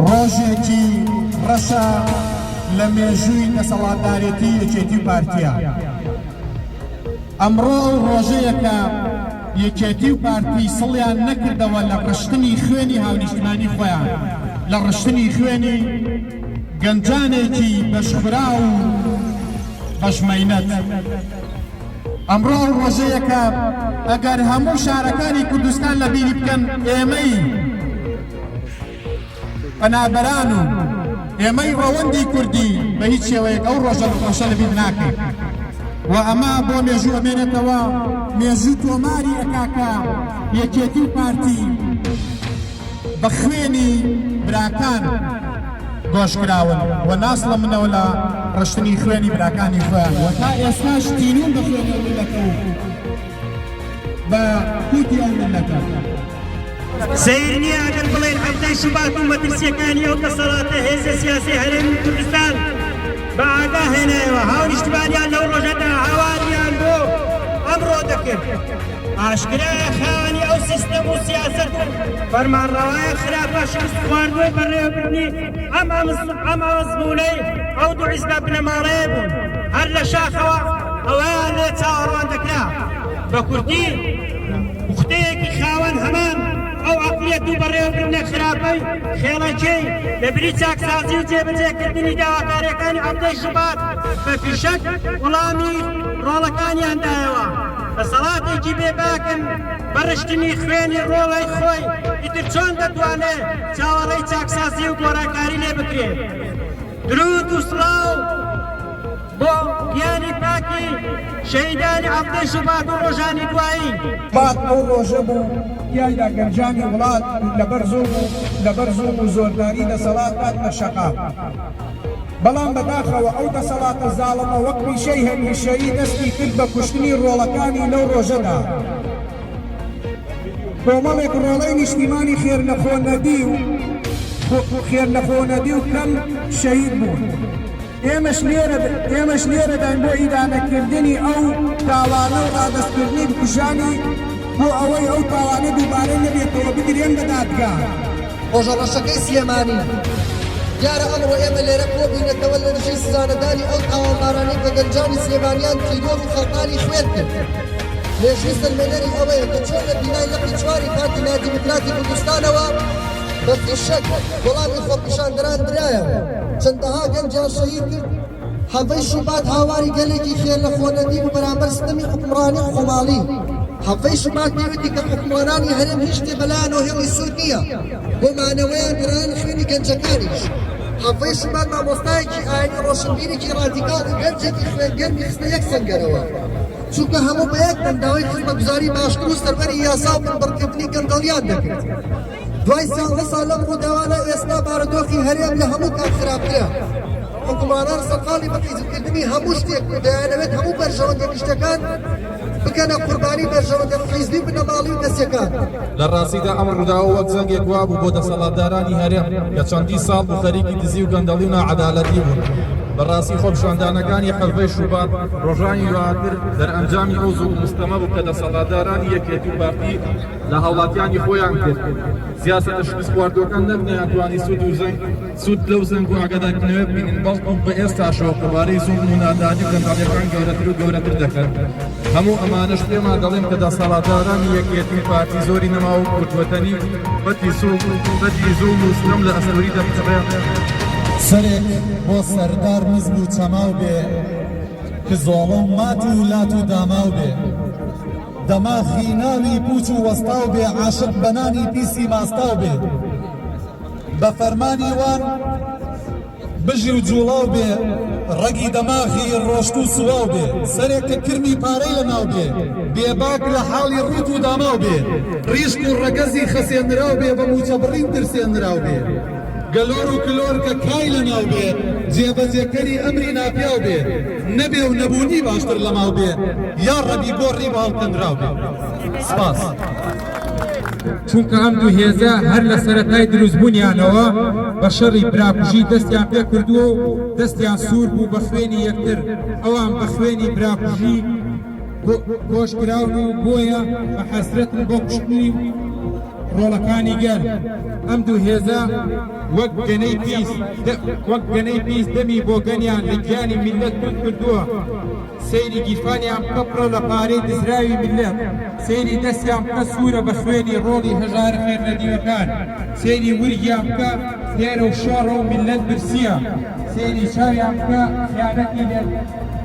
ڕۆژێکی ڕەشە لە مێژووی دەسەڵاتدارێتی یەکێتی و پارتیە ئەمڕۆ ئەو ڕۆژەیەکە یەکێتی و پارتی سڵیان نەکردەوە لە ڕشتنی خوێنی هاونیشتمانی خۆیان لە ڕشتنی خوێنی گەنجانێکی بەشخرا و بەشمەینەت ئەمڕۆ ئەو ڕۆژەیەکە ئەگەر هەموو شارەکانی کوردستان لە بیری بکەن ئێمەی پەنابەران و ئێمەی ڕەوەندی کوردی بە هیچ شێوەیەک ئەو ڕۆژە ڕۆشە لە بیر ناکەین و ئەمە بۆ مێژوو ئەمێنێتەوە مێژوو تۆماری ئەکاکە یەکێتی و پارتی بە خوێنی براکان گۆشکراون و ناس لە منەوە لە ڕشتنی خوێنی براکانی خۆیان و تا ئێستاش تینون بە خوێنەوە دەکەون بە کوتی ئەو ملەتە. سەیر نییە ئەگەر بڵێین حەفتەی شوبات و مەترسییەکانی ئەو دەسەڵاتە هێزە سیاسی هەرێمی کوردستان بە ئاگا هێنایەوە، هاونیشتمانیان لەو ڕۆژەدا هاواریان بۆ ئەمڕۆ دەکرد. ئاشکرایە خاوەنی ئەو سیستەم و سیاسەت و فەرمانڕەوایە خراپە شکستخواردووەی بەڕێوەبردنی ئەم ئەم ئەزموونەی ئەو دوو حیزبە بنەماڵەیە بوون هەر لە شاخەوە ئەوەیان لێ چاوەڕوان دەکرا بە کوردی پوختەیەکی خاوەن هەمان ئەو عقلیەت و بەڕێوەبردنە خراپەی خێڵەکەی لە بری چاکسازی و جێبەجێکردنی داواکاریەکانی عەبدەی شوبات بە فیشەک وڵامی ڕۆڵەکانیان دایەوە دەسەڵاتێکی بێباکن بە ڕشتنی خوێنی ڕۆڵەی خۆی ئیتر چۆن دەتوانێت چاوەڕێی چاکسازی و گۆرانکاری لێ بکرێ درود و سڵاو بۆ گیانی پاکی شەهیدانی هەفتەی شوبات و ڕۆژانی دوایی بات ئەو ڕۆژە بوو تیایدا گەنجانی وڵات لەبەر زۆر و لەبەر زۆر و زۆرداری دەسەڵات هات لە شەقا بەڵام بەداخەوە ئەو دەسەڵاتە زاڵمە وەک پیشەی هەمیشەیی دەستی کرد بە کوشتنی ڕۆڵەکانی لەو ڕۆژەدا کۆمەڵێک ڕۆڵەی نیشتیمانی خێر لەخۆ نەدی و خێر لەخۆ نەدی و کەم شەید بوون ئێمەش لێرە ئێمەش لێرەدان بۆ ئیدانەکردنی ئەو تاوانە و ڕادستکردنی بکوژانی بۆ ئەوەی ئەو تاوانە دووبارە نەبێتەوە بگرێن بە دادگا. ڕۆژە ڕەشەکەی سلێمانی دیارە ئەمڕۆ ئێمە لێرە کۆبووینەتەوە لە دژی سزادەدانی ئەو تاوانبارانەی کە گەنجانی سلێمانیان تیرۆر و خەڵتانی خوێن کرد مێژووی سەلمێنەری ئەوەیە کە چۆن لە بینای لقی چواری پارتی نادیموکراتی کوردستانەوە بە فیشەک وەڵامی خۆپیشاندەران درایەوە چەندەها گەنجیان شەهید کرد حەڤەی شوبات هاواری گەلێکی خێر لە خۆنەدی بوو بەرامبەر ستەمی حوکمڕانی خۆماڵی. حەڤەی شوبات پێی وتی کە حوکمڕانانی هەرێم هیچ شتێ بە لایانەوە هێڵی سوور نییە بۆ مانەوەیان گەرایان خوێنی گەنجەکانیش. حەڤەی شوبات مامۆستایەکی ئاینی ڕۆشنبیرێکی ڕادیکاڵ و گەنجێکی خوێن گەرمی خستە یەک سەنگەرەوە، چونکە هەموو بە یەک دەنگ داوای خزمەتگوزاری باشتر و سەروەری یاسا و بنبڕکردنی گەندەڵیان دەکرد. دوای سیانزە ساڵ لەم ڕووداوانە ئێستا بارودۆخی هەرێم لە هەموو کات خراپترە حکومانان سەرقاڵی بەفیزکردنی هەموو شتێک و دەیانەوێت هەموو بەرژەوەندە گشتەکان بکەنە قوربانی بەرژەوەندە حیزبی بنەماڵی و کەسەکان لە ڕاستیدا ئەم ڕووداوە وەک جەنگێک وابوو بۆ دەسەڵاتدارانی هەرێم کە چەندی ساڵ بوو خەریکی دزی و گەندەڵی و ناعەدالەتی بوون بەڕاستی خۆپشاندانەکانی حەڤەی شوبات ڕۆژانی دواتر دەرئەنجامی ئەو زۆر مستەمە بوو کە دەسەڵاتدارانی یەکێتی پارتی لە هاوڵاتیانی خۆیان کرد. سیاسەتە شکستخواردووەکان نەک نەیانتوانی سوود و زەنگ سوود لەو زەنگ و ئاگادارکردنەوە ببینن، بەڵکو بە ئێستاشەوە قەبارەی زوڵم و نادادی و گەندەڵیەکان گەورەتر و گەورەتر دەکەن. هەموو ئەمانەش پێمان دەڵێن کە دەسەڵاتدارانی یەکیەتی و پارتی زۆری نەماوە و کورتوەتەنی بەدی زوڵم و ستەم لە ئەستۆری دەپچڕێ. سەرێک بۆ سەردار نزم و چەماو بێ، کزۆڵە و مات و لات و داماو بێ. دەماخی ناوی پوچ و وەستاو بێ عاشق بە نانی پیسی ماستاو بێ بە فەرمانی وان بژی و جوڵاو بێ ڕەگی دەماخی ڕۆشت و سواو بێ سەرێک کە کرمی پارەی لە ناو بێ بێباک لە حاڵی ڕوت و داماو بێ ڕیشک و ڕەگەزی خەسێنراو بێ بە موچە بڕین ترسێنراو بێ گەلۆر و کلۆر کە کای لە ناو بێ جێبەجێکەری ئەمری ناپیاو بێ نەبێ و نەبوونی باشتر لەماڵ بێ یاڕەبی گۆڕی بە هەڵکەندراو بێ سپاس. چونکە ئەم دوو هێزە هەر لە سەرەتای دروستبوونیانەوە بە شەڕی براکوژی دەستیان پێ کردووە و دەستیان سوور بوو بە خوێنی یەکتر ئەوان بە خوێنی براکوژی کۆشکراون و بۆیە بە حەسرەتن بۆ کوشتنی ڕۆڵەکانی گەل ئەم دوو هێزە وەک گەنەی پیس وەک گەنەی پیس دەمی بۆگەنیان لە گیانی میللەت کورد کردووە سەیری گیرفانیان بکە پڕە لە پارەی دزراوی میللەت سەیری دەستیان بکە سوورە بە خوێنی ڕۆڵی هەژارە خێرنەدیوەکان سەیری ورگیان بکە هێرە و شۆڕە و میللەت برسییە سەیری چاویان بکە خیانەتی لێ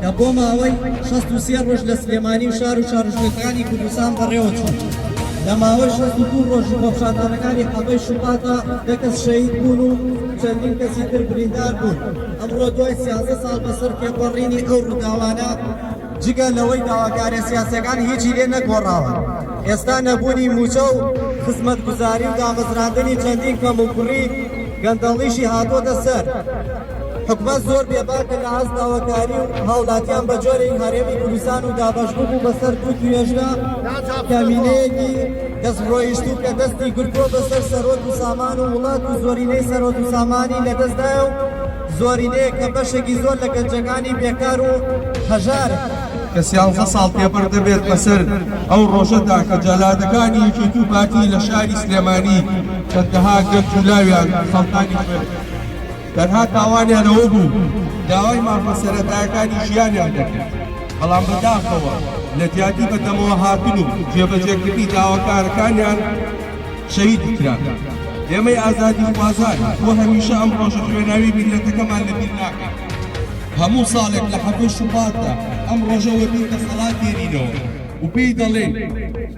کە بۆ ماوەی شەست و سێ ڕۆژ لە سلێمانی و شار و شارژێکانی کوردستان بەڕێوەچوو لە ماوەی شەست و دوو ڕۆژ بەپشاندانەکانی حەبەی شوباتە دە کەس شەهید بوون و چەندین کەسی تر بریندار بوون ئەمڕۆ دوای سیازدە ساڵ بەسەر تێپەڕینی ئەو ڕووداوانە جگە لەوەی داواکارە سیاسەکان هیچی لێ نەگۆڕاوە ئێستا نەبوونی موچە و خزمەتگوزاری و دامەزراندنی چەندین کەم و کوڕی گەندەڵیشی هاتۆتە سەر حکومەت زۆر بێباکە لە هەست داواکاری و هاوڵاتیان بە جۆرێک هەرێمی کوردستان و دابەش ببوو بەسەر دوو توێژگە کەمینەیەکی دەست ڕۆیشتوو کە دەستی گرتووە بەسەر سەرۆک و سامان و وڵات و زۆرینەی سەرۆک و سامانی لەدەستدایە و زۆرینەیە کە بەشێکی زۆر لە گەنجەکانی بێکار و هەژار کە سیانزە ساڵ تێپەڕ دەبێت بەسەر ئەو ڕۆژەدا کە جەلادەکانی یەکێتی و پارتی لە شاری سلێمانی چەندەها گەنج و لاویان خەڵکانی خوێن تەنها تاوانیان ئەوە بوو داوای مافە سەرەتایەکانی ژیانیان دەکرد، بەڵام بەداخەوە لە جیاتی بەدەمەوە هاتن و جێبەجێکردنی داواکارەکانیان شەهید کران. ئێمەی ئازادیخوازان بۆ هەمیشە ئەم ڕۆژە خوێناوی میللەتەکەمان لەبیر ناکەین. هەموو ساڵێک لە حەڤدە شوباتدا ئەم ڕۆژە وەبیر دەسەڵات دێنینەوە و پێی دەڵێین،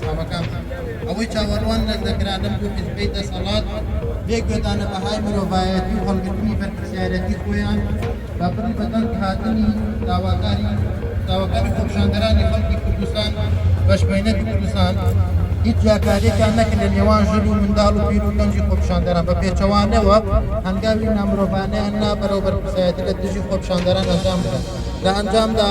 سڵاوەکانتان. ئەوەی چاوەڕوان لە زەکرانەم بوو حیزبەی دەسەڵات بێ گوێدانە بەهای مرۆڤایەتی و هەڵگرتنی بەرپرسیارەتی خۆیان بە بڕی بەدەنگ هاتنی داواکاری داواکاری خۆپیشاندەرانی خەڵکی کوردستان بە شبەینەتی کوردستان هیچ جیاکاریەکیان نەکرد لە نێوان ژن و منداڵ و پیر و گەنجی خۆپیشاندەران بە پێچەوانەوە هەنگاوی نامرۆڤانەیان نا بەرەو بەرپرسایەتی لە دژی خۆپیشاندەران ئەنجام بدەن لە ئەنجامدا